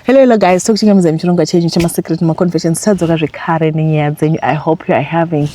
Hello, hello guys, tokuchingamidza muchirongwa chenyu chemasecret maconfessions tadzoka zvekare nenyaya dzenyu. I hope you are having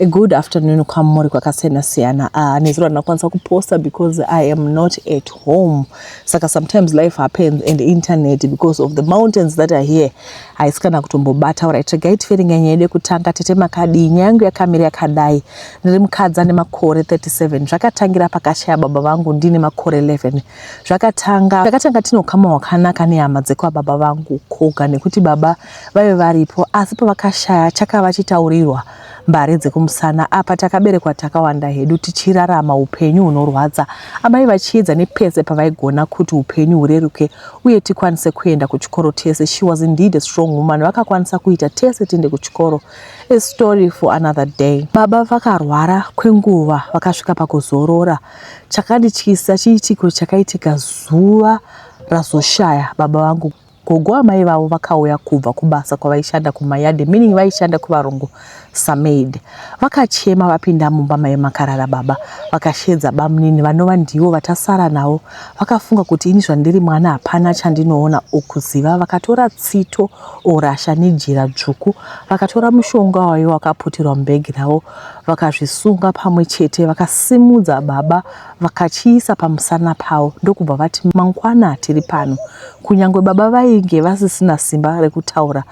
a good afternoon kwamuri kwakasiyana siyana. Uh, ah, nezuro ndinakwanisa kuposta because I am not at home. Saka sometimes life happens and internet because of the mountains that are here haisi kana kutombobata. Alright, regai tifere nyaya yedu yekutanga. Tete makadii? Nyaya yangu yakamira yakadai. Ndiri mukadzi ane makore 37. Zvakatangira pakashaya baba vangu ndine makore 11. Zvakatanga takatanga tine ukama hwakanaka nehama dzekwababa vangu Koga nekuti baba vaive varipo asi pavakashaya chakava chitaurirwa mbare dzekumusana apa takaberekwa takawanda hedu tichirarama upenyu hunorwadza amai vachiedza nepese pavaigona kuti upenyu hureruke uye tikwanise kuenda kuchikoro tese she was indeed a strong woman vakakwanisa kuita tese tiende kuchikoro a story for another day baba vakarwara kwenguva vakasvika pakuzorora Chakandityisa chiitiko chakaitika zuva razoshaya baba vangu. Gogo amai vavo vakauya kubva kubasa kwavaishanda kumayadhi meaning vaishanda kuvarungu samaid. Vakachema vapinda mumba maive makarara baba vakashedza bamunini vanova ndivo vatasara navo. Vakafunga kuti ini zvandiri mwana hapana chandinoona or kuziva vakatora tsito or rasha nejira dzvuku vakatora mushonga waive wakaputirwa mubhegi ravo vakazvisunga pamwe chete vakasimudza baba vakachiisa pamusana pavo ndokubva vati mangwana tiri pano kunyange baba vainge vasisina simba rekutaura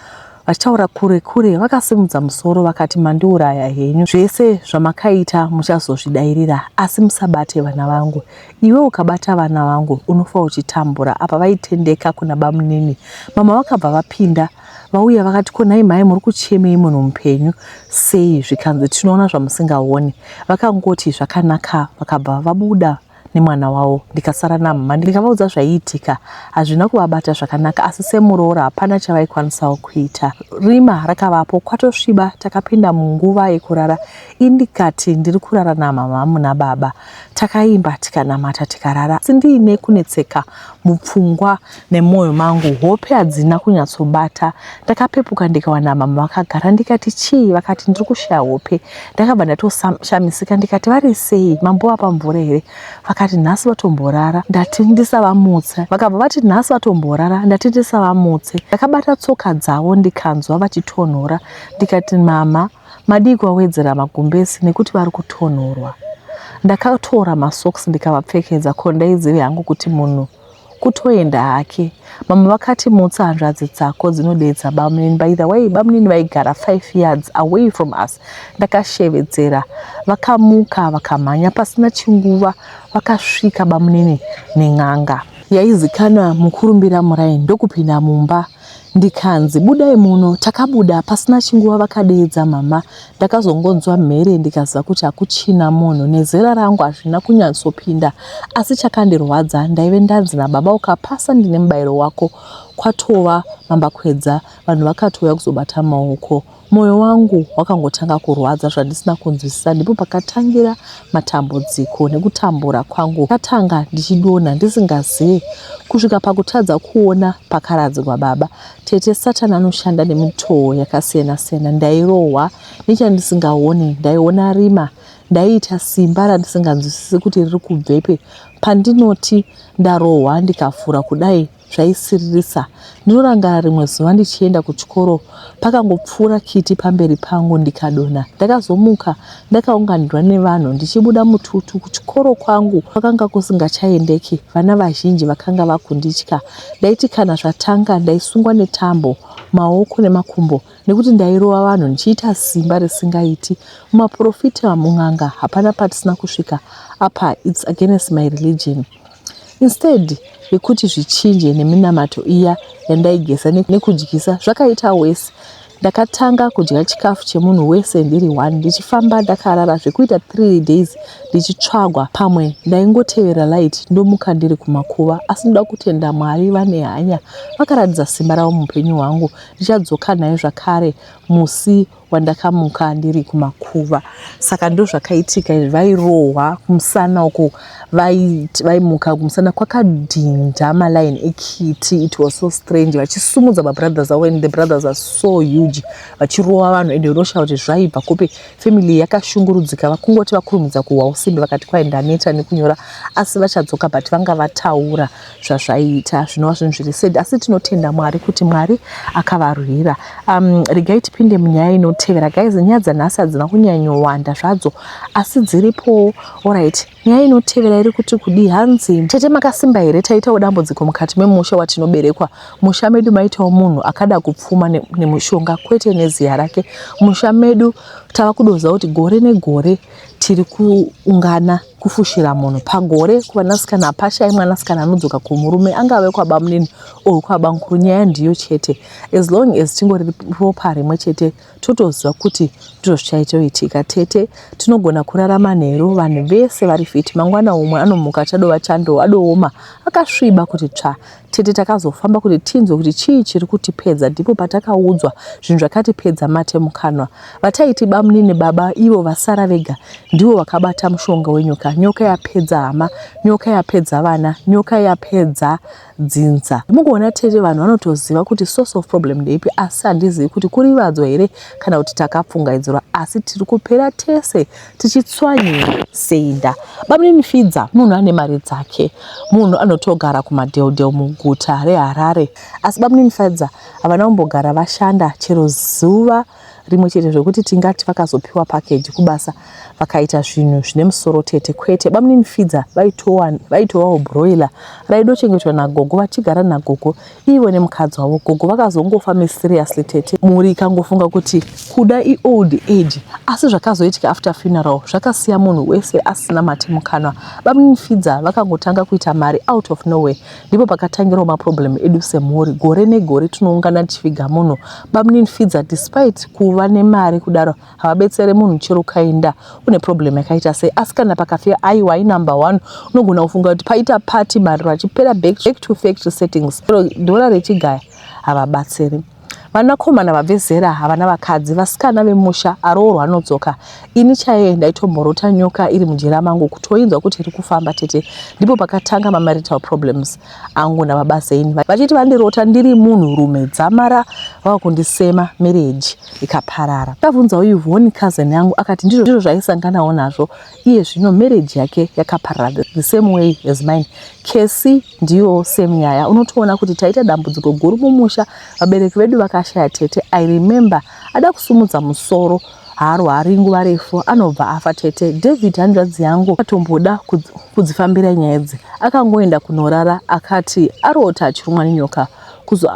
vachitaura kure kure vakasimudza musoro vakati mandiuraya henyu zvese zvamakaita muchazozvidairira asi musabate vana vangu iwe ukabata vana vangu unofa uchitambura apa vaitendeka kuna bamunini mama vakabva vapinda Vauya vakati ko nhai mhai muri kuchemei munhu mupenyu sei zvikanzi tinoona zvamusingaone. Vakangoti zvakanaka vakabva vabuda nemwana wavo ndikasara namhamha ndikavaudza zvaiitika hazvina kuvabata zvakanaka asi semuroora hapana chavaikwanisawo kuita rima rakavapo kwatosviba takapinda munguva yekurara indikati ndiri kurara namhamha muna baba takaimba tikanamata tikarara asi ndiine kunetseka mupfungwa Nemoyo mangu hope hadzina kunyatsobata. Ndakapepuka ndikawana mama vakagara ndikati chii vakati ndiri kushaya hope. Ndakabva ndatoshamisika ndikati vari sei mambo vapa mvura here vakati nhasi vatomborara ndati ndisavamutse. Vakabva vati nhasi vatomborara ndati ndisavamutse. Ndakabata tsoka dzavo ndikanzwa vachitonhora ndikati mama madii kuvawedzera magumbesi nekuti vari kutonhorwa. Ndakatora masocks ndikavapfekedza ko ndaizive hangu kuti munhu kutoenda hake mamwe vakati mutsa hanzvadzi dzako dzinodeedza bamunini by the way bamunini vaigara 5 yards away from us ndakashevedzera vakamuka vakamhanya pasina chinguva vakasvika bamunini nen'anga yaizikanwa mukurumbira muraini ndokupinda mumba ndikanzi budai muno takabuda pasina chinguva vakadeedza mama ndakazongonzwa mhere ndikaziva kuti hakuchina munhu nezera rangu hazvina kunyatsopinda asi chakandirwadza ndaive ndanzi nababa ukapasa ndine mubairo wako kwatova mambakwedza vanhu vakatouya kuzobata maoko Moyo wangu wakangotanga kurwadza zvandisina kunzwisisa ndipo pakatangira matambudziko nekutambura kwangu katanga ndichidonha ndisingazive kusvika pakutadza kuona pakaradzikwa baba tete satani anoshanda nemitoo yakasiyana siyana ndairohwa nechandisingaoni ndaiona rima ndaiita simba randisinganzwisisi kuti riri kubvepi pandinoti ndarohwa ndikavhura kudai zvaisiririsa. Ndinorangarira rimwe zuva ndichienda kuchikoro pakangopfuura kiti pamberi pangu ndikadonha. Ndakazomuka ndakaunganirwa nevanhu ndichibuda mututu. Kuchikoro kwangu kwakanga kusingachaendeki, vana vazhinji vakanga vakunditya. Ndaiti kana zvatanga ndaisungwa netambo, maoko nemakumbo nekuti ndairova vanhu ndichiita simba risingaiti. Mumaporofita mun'anga hapana patisina kusvika apa it's against my religion. Instead yekuti zvichinje neminamato iya yandaigeza nekudyisa zvakaita worse. Ndakatanga kudya chikafu chemunhu wese ndiri one ndichifamba ndakarara zvekuita three days ndichitsvagwa pamwe ndaingotevera light ndomuka ndiri kumakuva asi ndoda kutenda Mwari vane hanya vakaratidza simba ravo mupenyu hwangu ndichadzoka naye zvakare musi Wandakamuka ndiri kumakuva saka ndozvakaitika izvi vairohwa kumusana uko vaimuka kumusana kwakadhinda maline ekiti it was so strange vachisumudza mabrothers avo and the brothers are so huge vachirohwa vanhu and unosha kuti zvaibva kupi family yakashungurudzika vakungoti vakurumidza kuhwa usimbe vakati kwaindaneta nekunyora asi vachadzoka but vanga vataura zvazvaiita zvinova zvinhu zviri sad asi tinotenda mwari kuti mwari akavarwira um, regai tipinde munyaya inotevera guys nyaya dzanhasi hadzina kunyanyowanda zvadzo asi dziripowo orit nyaya inotevera iri kuti kudii hanzi tete makasimba here taitawo dambudziko mukati memusha watinoberekwa musha medu maitawo munhu akada kupfuma nemushonga kwete neziya rake musha medu tava kudoza kuti gore negore tiri kuungana kufushira munhu pagore kuvanasikana hapashayi mwanasikana anodzoka kumurume angave kwabamunini or kwabamukuru nyaya ndiyo chete as long as tingori ropa rimwe chete totoziva kuti ndizvo zvichaitoitika tete tinogona kurarama nheru vanhu vese vari fiti mangwana umwe anomuka chadova chando adooma akasviba kuti tsva Tete takazofamba kuti tinzwe kuti chii chiri kutipedza ndipo patakaudzwa zvinhu zvakatipedza mate mukanwa. Vataiti bamnini baba ivo vasara vega ndivo vakabata mushonga wenyoka. Nyoka yapedza hama, nyoka yapedza vana, nyoka yapedza dzinza. Mukuona tete vanhu vanotoziva kuti source of problem ndeipi asi handizivi kuti kurivadzwa here kana kuti takapfungaidzirwa asi tiri kupera tese tichitswanyira seinda bamnini fidza munhu ane mari dzake munhu anotogara kumadheldel muguta reharare asi bamnini fidza havana kumbogara vashanda chero zuva rimwe chete zvekuti tingati vakazopiwa pakeji kubasa vakaita zvinhu zvine musoro tete kwete bamnini fidza vaitowawo broiler raidochengetwa nagogo vachigara nagogo iwe nemukadzi wavo gogo vakazongofa mysteriously tete mhuri ikangofunga kuti kuda iold age asi zvakazoitika after funeral zvakasiya munhu wese asina mate mukanwa bamimfidza vakangotanga kuita mari out of nowhere ndipo pakatangirawo maproblem edu semhuri gore negore tinoungana tichiviga munhu bamninfidza despite kuva nemari kudaro havabetsere munhu chero ukaenda une problem yakaita sei asi kana pakafira aiwa inumber one unogona kufunga kuti paita party mariro achipera back to factory settings ro dhora rechigaya havabatsiri vanakomana vabve zera havana vakadzi vasikana vemusha aroorwa anodzoka ini chaiye ndaitomborota nyoka iri mujera mangu kutoinzwa kuti iri kufamba tete ndipo pakatanga mamarital problems angu nababa Zain vachiti vandirota ndiri munhu rume dzamara vava kundisema marriage ikaparara. Ndakabvunzawo Yvonne cousin yangu akati ndizvo ndizvo zvaisanganawo nazvo iye zvino marriage yake yakaparara the same way as mine. Kesi ndiyo same nyaya unotoona kuti taita dambudziko guru mumusha vabereki vedu vakashaya tete I remember ada kusumudza musoro haarwari nguva refu anobva afa tete david hanzvadzi yangu akatomboda kudzifambira nyaya idzi akangoenda kunorara akati arota achirumwa nenyoka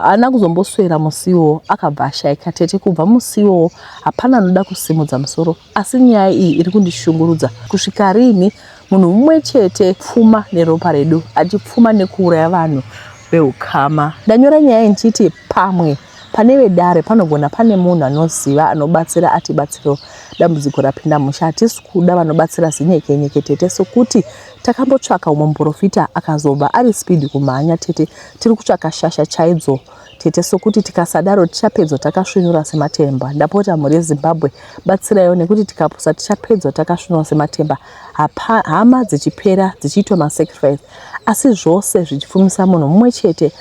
haana kuzomboswera musi iwowo akabva ashaika tete kubva musi iwowo hapana anoda kusimudza musoro asi nyaya iyi iri kundishungurudza kusvika riini munhu mumwe chete pfuma neropa redu achipfuma nekuuraya vanhu veukama ndanyora nyaya iyi ndichiti pamwe Pane vedare panogona pane munhu anoziva anobatsira atibatsirewo dambudziko rapinda musha hatisi kuda vanobatsira zinyekenyeke tete sokuti takambotsvaka umwe muprofita akazobva ari speed kumhanya tete tiri kutsvaka shasha chaidzo tete sokuti tikasadaro tichapedzwa takasvinura sematemba ndapota mhuri yezimbabwe batsiraiwo nekuti tikapusa tichapedzwa takasvinura sematemba hama dzichipera dzichiitwa masacrifice Asi zvose zvichipfumisa munhu mumwe chete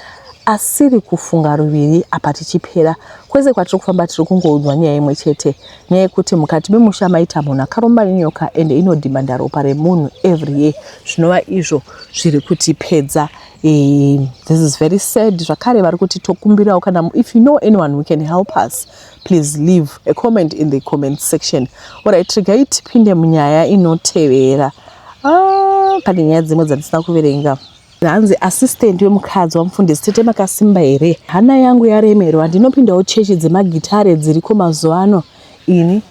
asiri kufunga ruviri apa tichipera kwese kwatiri kufamba tiri kungoudzwa nyaya imwe chete nyaya yekuti mukati memusha maita munhu akaromba nenyoka ende inodhimanda ropa remunhu every year zvinova izvo zviri kutipedza eh, this is very sad zvakare vari kuti tokumbirawo kana if you know anyone who can help us please leave a comment in the comment section orit regai tipinde munyaya inotevera ah, pane nyaya dzimwe dzandisina kuverenga hanzi assistant wemukadzi wamufundisi tete makasimba here hana yangu yaremerwa ndinopindawo chechi dzemagitare dziriko mazuva ano ini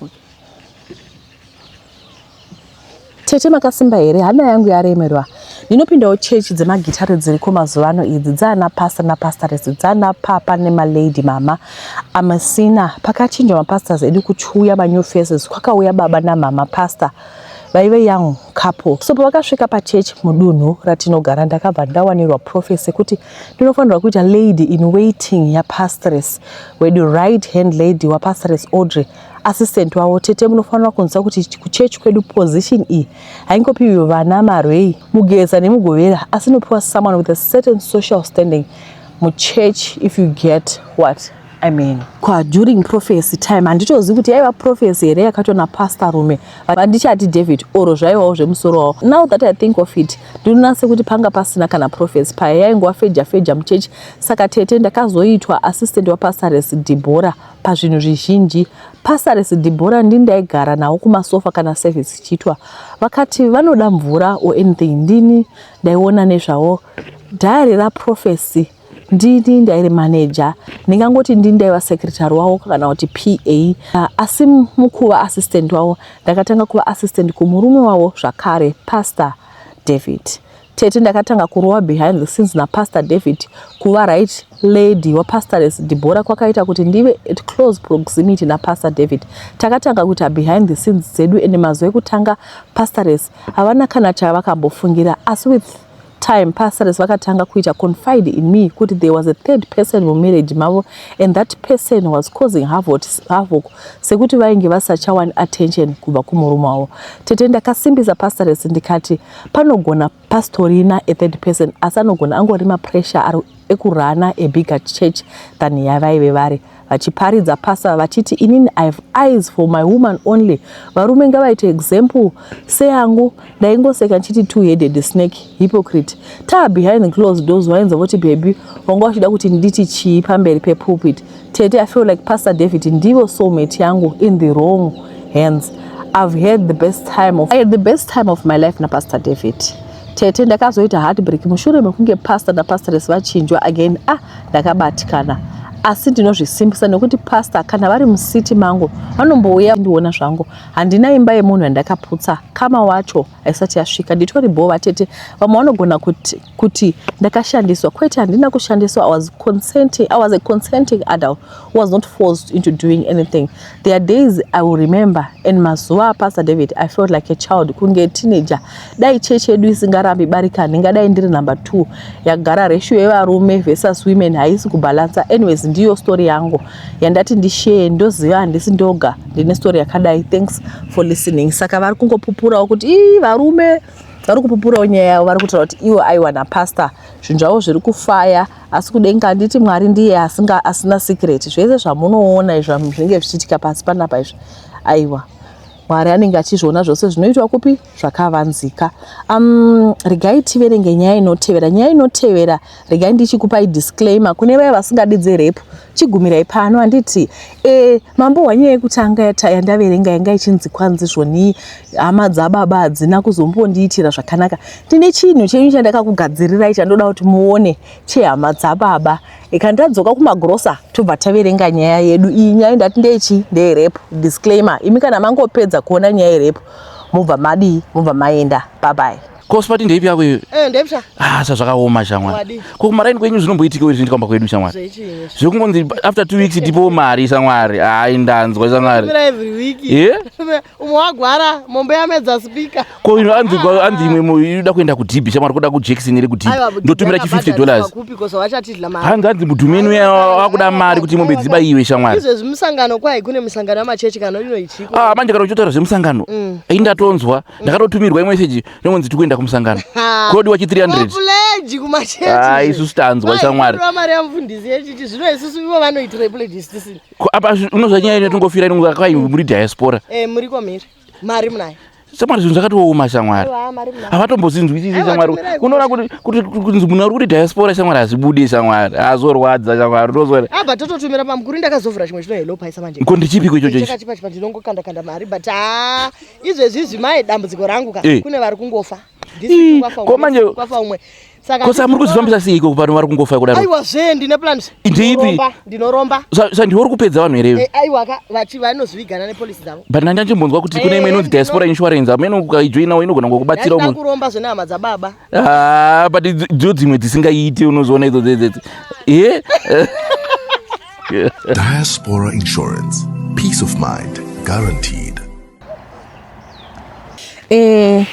Tete makasimba here hana yangu yaremerwa ndinopindawo chechi dzemagitare dziriko mazuva ano idzi dzaana pasta napastaresi dzaana papa nemalady mama amasina pakachinja mapastas edu kuchiuya manew faces kwakauya baba namama pastor vaive young couple so pavakasvika pachechi mudunhu ratinogara ndakabva ndawanirwa profesi yekuti ndinofanirwa kuita lady in waiting yapastres wedu right hand lady wapastres audrey assistant wavo tete munofanira kunzwa kuti kuchechi kwedu position iyi haingopiwi vana marwei mugeza nemugovera asi inopiwa someone with a certain social standing muchechi if you get what I mean, kwa during prophecy time handitozivi kuti yaiva prophecy here yakatona pastor rume vandichati david oro zvaivawo zvemusoro wavo now that i think of it ndinoona sekuti panga pasina kana prophecy paya yaingova feja feja muchechi saka tete ndakazoitwa assistant wapastores debora pazvinhu zvizhinji. Pastores Deborah ndini ndaigara navo kumasofa kana service ichiitwa. Vakati vanoda mvura or anything ndini ndaiona nezvavo. Diary raProphecy ndini ndairi manager ndingangoti ndini ndaiva secretary wavo kana kuti pa uh, asi mukuva assistant wavo ndakatanga kuva assistant kumurume wavo zvakare pastor david Tete ndakatanga kurova behind the scenes naPastor David kuva right lady waPastoress Deborah kwakaita kuti ndive at close proximity naPastor David. Takatanga kuita behind the scenes dzedu and mazuva ekutanga Pastoress havana kana chavakambofungira asi with time Pastoress vakatanga kuita confide in me kuti there was a third person mumarriage mavo and that person was causing havoc sekuti vainge vasachawani attention kubva kumurume wavo. Tete ndakasimbisa Pastoress ndikati Panogona pastorina a third person asi anogona angori mapressure ari ekurana a bigger church than yavaive vari vachiparidza pastor vachiti inini i have eyes for my woman only varume ngavaite example seyangu ndaingoseka ndichiti two headed snake hypocrite taa behind closed doors wainzwa voti bhebi wanga uchida kuti nditi chii pamberi pepulpit Tete, I feel like Pastor David ndivo soulmate yangu in the wrong hands. I've had the best time of, I had the best time of my life na Pastor David. Tete, ndakazoita heartbreak mushure mekunge pastor na pastoress vachinjwa again. Ah, ndakabatikana asi ndinozvisimbisa nekuti pastor kana vari musiti mangu vanombouya ndiona zvangu. Handina imba yemunhu yandakaputsa kama wacho haisati yasvika nditori bhoo vatete vamwe vanogona kuti, kuti ndakashandiswa kwete handina kushandiswa I was, consenting, I was a consenting adult who was not forced into doing anything there are days I will remember and mazuva apastor David I felt like a child kunge teenager dai chechi yedu isingarambi barika ndingadai ndiri number two yagara ratio yevarume versus women haisi kubalansa anyways ndiyo story yangu yandati ndishare ndoziva handisi ndoga ndine story yakadai thanks for listening saka vari kungopupurawo kuti ii varume vari kupupurawo nyaya yavo vari kutaura kuti iwo aiwana pastor zvinhu zvavo zviri kufaya asi kudenga handiti mwari ndiye asinga asina secret zvese zvamunoona izvo zvinenge zvichiitika pasi panapa izvi aiwa Mwari anenge achizviona zvose zvinoitwa kupi zvakavanzika. Um, regai tiverenge nyaya inotevera. Nyaya inotevera regai ndichikupai disclaimer kune vaya vasingadi dzerepu. Chigumirai pano handiti e, mambo wanyaya yekutanga yandaverenga yanga ichinzi kwanzi zvonii hama dzababa hadzina kuzombondiitira zvakanaka. Ndine chinhu chenyu chandakakugadzirirai chandoda kuti muone chehama dzababa. ikani tadzoka kumagrosa tobva taverenga nyaya yedu iyi nyaya ndati ndechi ndeyerepu disclaimer imi kana mangopedza kuona nyaya yerepu mobva madii mobva maenda babai kospati ndeipi yako iyo eh, ndepsa ah sa zvakaoma shamwari ko kumaraini kwenyu zvinomboitikawo izvi ndikwamba kwedu shamwari zvekungonzi after two weeks tipowo mari shamwari hayi ndanzwa shamwari yeah? umwe wagwara mombe yamedza spika ko ino anzi anzi imwe mo inoda kuenda kudhibi shamwari kuda kujekiseni iri kudhibi ndotumira chi 50 dollars hanzi anzi mudhumeni uya wakuda mari kuti mombe dziba iwe shamwari izvezvi musangano kwai kune musangano yamachechi kana ino ichiko ah manje kana uchotaura zvemusangano mm. ai ndatonzwa mm. ndakatotumirwa imeseji nonzi tiri kuenda kumusangano kodi wachi 300 ah, isu sitanzwa shamwari mari yamufundisi yechiti zvino isusu ivo vanoitira pledge isisini Ko apa unozva nyaya ino tingofira ino ngaka kwai muri diaspora. Eh muri ko mhiri. Mari munayo. Samari zvinhu zvakatooma shamwari. Havatombozinzwisisi shamwari. Unoona kuti kuti kunzi munhu ari kuti diaspora shamwari hazvibude shamwari. Hazorwadza shamwari. Unozora. Ah but tototumira pamukuru ndakazovhura chimwe chino hello paisa manje. Ko ndichipiko ichocho ichi? Chakachipa chipa ndinongokanda kanda mari but ah izvezvi zvimai dambudziko rangu ka. Eh. Kune vari kungofa. ko manje ko sa muri kuzvifambisa sei iko vanhu vari kungofa kudaro aiwa zve ndine plans ndipi ndinoromba sa ndiwe uri kupedza vanhu here eh, aiwa ka vachi vanozvigana ne police dzavo but ndanga ndimbonzwa kuti kune imwe eh, inonzi diaspora insurance amene ukaijoinawo inogona ngokubatsira umwe kuromba zvene hama dza baba ah but dzo dzimwe dzisingaiti unozoona idzo dzedzedzi eh diaspora insurance peace of mind guaranteed Eh,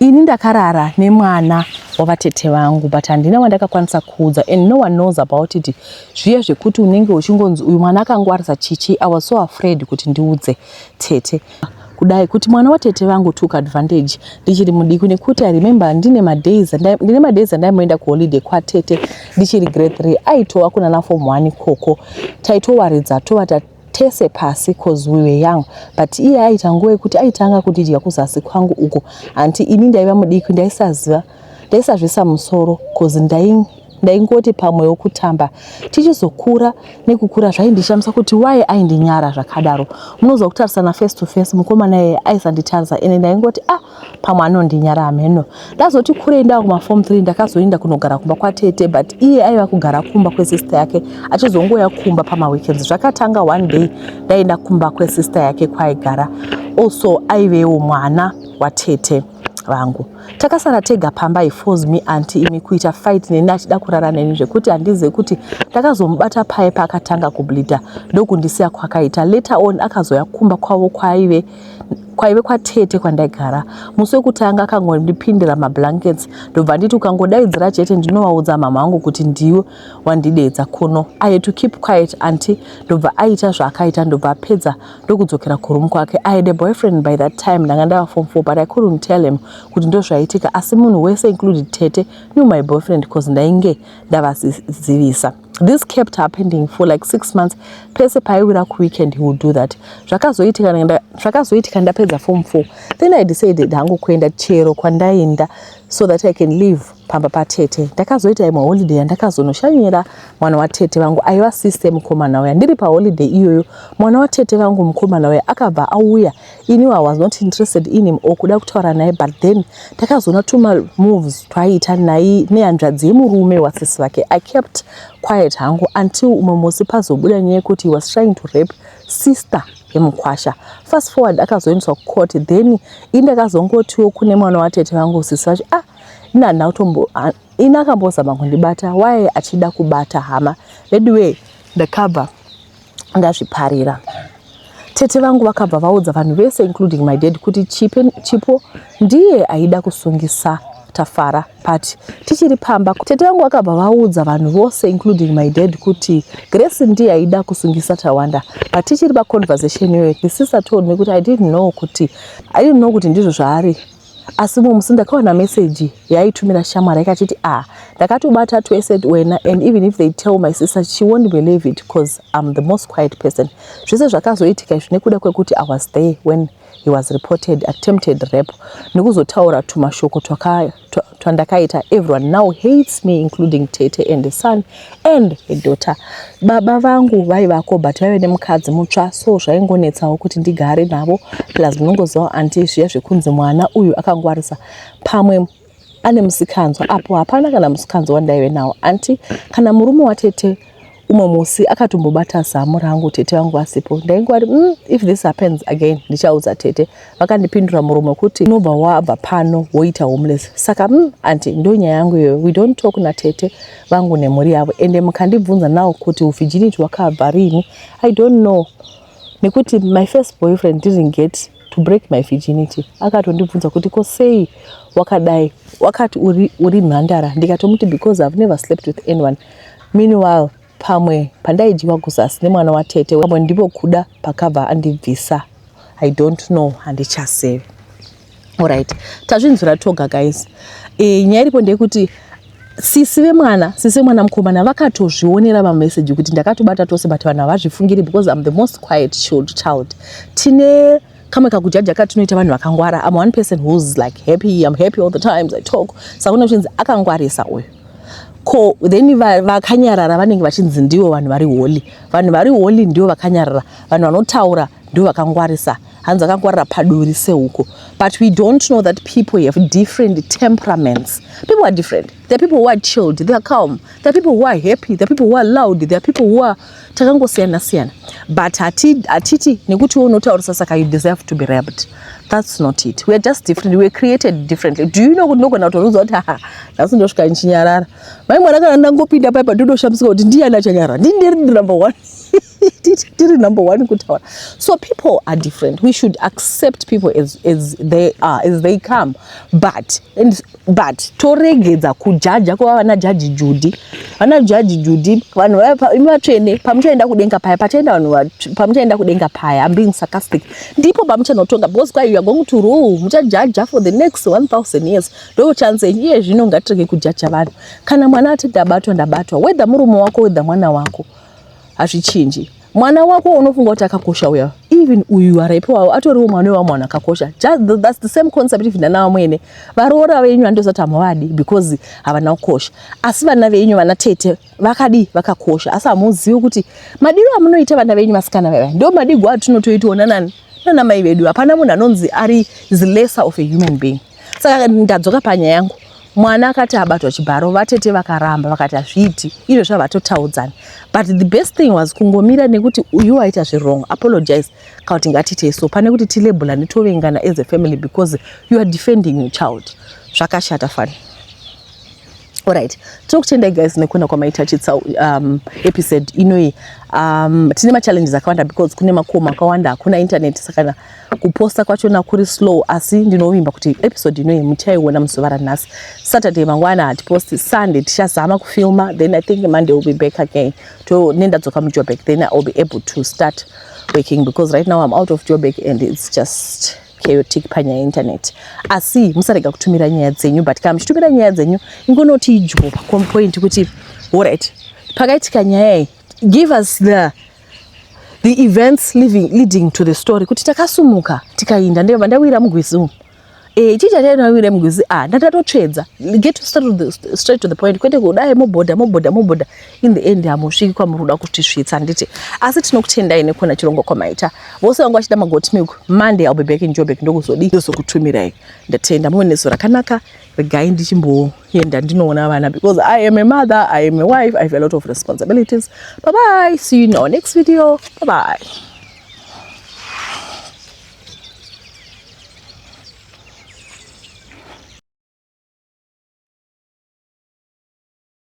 ini ndakarara nemwana wavatete vangu but handina wandakakwanisa kuudza and no one knows about it zviye zvekuti unenge uchingonzi uyu mwana akangwarisa chichi i was so afraid kuti ndiudze tete kudai kuti mwana watete vangu took advantage ndichiri mudiki nekuti i remember ndine madays ndine madays andaimboenda kuholiday kwatete ndichiri grade three aitova kunana form one ikoko taitowaridza tova tese pasi cause we were young but iye aita nguva yekuti aitanga kundidya kuzasi kwangu uko hanti ini ndaiva mudiki ndaisaziva ndaisazvisa musoro cause ndaingoti pamwe wokutamba tichizokura nekukura zvaindishamisa kuti waye aindinyara zvakadaro munozwa kutarisana face to face mukomana yeye aisanditarisa ende ndaingoti ah pamwe anondinyara hameno ndazoti kurei ndava kumaform 3 ndakazoenda kunogara kumba kwatete but iye aiva kugara kumba kwesister yake achizongouya kumba pamaweekends zvakatanga one day ndaenda kumba kwesister yake kwaigara also aivewo mwana watete vangu takasara tega pamba he force me anti imi kuita fight neni achida kurara neni zvekuti handizive kuti ndakazomubata paye paakatanga kubleeder ndokundisiya kwakaita later on akazoya kumba kwavo kwaive kwaive kwatete kwandaigara musi wekutanga akangondipindira mablankets ndobva nditi ukangodaidzira chete ndinovaudza mama vangu kuti ndiwe wandideedza kuno i had to keep quiet anti ndobva aita zvaakaita ndobva apedza ndokudzokera kuroom kwake i had a boyfriend by that time ndanga ndava form four but i couldn't tell him kuti ndozvaitika asi munhu wese included tete knew my boyfriend bcause ndainge ndavazivisa This kept happening for like six months. Pese paiwira kuweekend he would do that. Zvakazoitika nda zvakazoitika ndapedza form 4. Then I decided hangu kuenda chero kwandaenda so that I can live pamba patete. Ndakazoita imwe holiday yandakazonoshanyira mwana watete vangu aiva sister mukomana uya. Ndiri pa holiday iyoyo mwana watete vangu mukomana uya akabva auya Ini I was not interested in him or kuda kutaura naye but then takazoona tuma moves twaiita naye nehanzvadzi yemurume wasisi vake. I kept quiet hangu until umwe musi pazobuda nyaya yekuti he was trying to rape sister yemukwasha. Fast forward akazoendeswa kucourt then ini ndakazongotiwo kune mwana watete vangu sisi vacho ah ini handina kutombo ah, ini akambozama kundibata waye achida kubata hama veduwee ndakabva ndazviparira tete vangu vakabva vaudza vanhu vese including my dad kuti chipe chipo ndiye aida kusungisa tafara but tichiri pamba tete vangu vakabva vaudza vanhu vose including my dad kuti grace ndiye aida kusungisa tawanda but tichiri paconversation iyoyo the sister told me kuti i didn't know kuti i didn't know kuti ndizvo zvaari asi mumwe musi ndakawana message yaitumira shamwari yakachiti a ah, ndakatobata twese wena and even if they tell my sister she won't believe it because im the most quiet person zvese zvakazoitika izvi nekuda kwekuti i was there when he was reported attempted rap nekuzotaura tumashoko twandakaita everyone now hates me including tete and the son and a daughter baba vangu vaivako but vaive nemukadzi mutsva so zvaingonetsawo kuti ndigare navo plus munongozivawo anti zviya zvekunzi mwana uyu akangwarisa pamwe ane musikanzwa apo hapana kana musikanzwa wandaive nawo anti kana murume watete umwe musi akatombobata zamu rangu tete vangu vasipo ndaingwari mm, if this happens again ndichaudza tete vakandipindura muromo wekuti unobva wabva pano woita homeless saka mm, anti ndo nyaya yangu iyoyo we don't talk natete vangu nemhuri yavo ende mukandibvunza nawo kuti uvhijiniti wakabva rini i don't know nekuti my first boyfriend didn't get to break my virginity akatondibvunza kuti ko sei wakadai wakati uri, uri mhandara ndikatomuti because i've never slept with anyone meanwhile Pamwe pandaidyiwa kuzasi nemwana watete pamwe ndipo kuda pakabva andibvisa I don't know handichazivi. Alright, tazvinzwira toga guys. E, nyaya iripo ndeyekuti sisi vemwana sisi vemwana mukomana vakatozvionera mameseji kuti ndakatobata tose but vanhu havazvifungiri because I'm the most quiet child. Tine kamwe kakujaja katinoita vanhu vakangwara am one person who's like happy am happy all the times i talk saka une uchinzi akangwarisa uyu ko then vakanyarara vanenge vachinzi ndivo vanhu vari holy vanhu vari holy ndivo vakanyarara vanhu vanotaura ndivo vakangwarisa hanzi akangwarira paduri sehuko but we don't know that people have different temperaments people are different There are people who are chilled, they are calm. There are people who are happy, there are people who are loud, there are people who are takangosiyana siyana. But hatiti nekuti wewe unotaurisa saka you deserve to be raped. That's not it. We are just different. We are created differently. Do you know kuti nogona kutorudzwa kuti haha nhasi ndosvika ndichinyarara. Mai mwana kana ndangopinda paipa ndodoshambidzika kuti ndiyani achanyarara. Ndini ndiri number one. tiri number one kutaura so people are different we should accept people as, as they are as they come but and, but toregedza kujaja kuva vana jaji judi vana jaji judi vanhu imi vatsvene pamuchaenda kudenga paya pachaenda vanhu pamuchaenda kudenga paya am being sarcastic ndipo pamuchanotonga because kwai youare going to rule muchajaja for the next 1000 years ndochanse iye zvino ngatirege kujaja vanhu kana mwana atete abatwa ndabatwa whether murume wako whether mwana wako hazvichinji mwana wako unofunga kuti akakosha uya even uyu araipi wavo atoriwo mwana wewa mwana akakosha thats the same concept even ana vamwene varoora venyu vandosati hamuvadi because havana kukosha asi vana venyu vana tete vakadii vakakosha asi hamuzivi kuti madiro amunoita vana venyu vasikana vava ndo madigwa atinotoitawo nanani nana mai vedu hapana munhu anonzi ari is lesser of a human being saka ndadzoka panyaya yangu mwana akati abatwa chibharo vatete vakaramba vakati hazviiti izvo zvavatotaudzana but the best thing was kungomira nekuti uyu waita zvirong apologize kana kuti ngatiitei so pane kuti tilebula netovengana as a family because you are defending your child zvakashata fani Alright, tiri kutenda guys nekuona kwamaita chitsa um, episode inoyi um, tine machallenges akawanda because kune makomo akawanda hakuna internet sakana kuposta kwachona kuri slow asi ndinovimba kuti episode inoyi muchaiona muzuva ranhasi saturday mangwana hatiposti sunday tichazama kufilma then i think monday will be back again to nendadzoka mujoburg then iwill be able to start working because right now i'm out of joburg and it's just chaotic panyaya yeinternet asi musarega kutumira nyaya dzenyu but kana muchitumira nyaya dzenyu ingonoti idyo pacompoint kuti orit pakaitika nyaya iyi give us the the events living, leading to the story kuti takasumuka tikainda ndeva ndawira mugwizi umu e, chii chatainawira mugwizi a ah, ndatatotsvedza get straight to the point kwete kudai mobhodha mobhodha mobhodha in the end hamusviki kwamuri kuda kutisvitsa handiti asi tinokutendai nekuona chirongwa kwamaita vose vanga vachida magoti milk monday ill be back in jobek ndokuzodii ndozokutumirai ndatenda muve neso rakanaka regai ndichimboenda ndinoona vana because i am a mother i am a wife i have a lot of responsibilities bye bye see you in our next video bye bye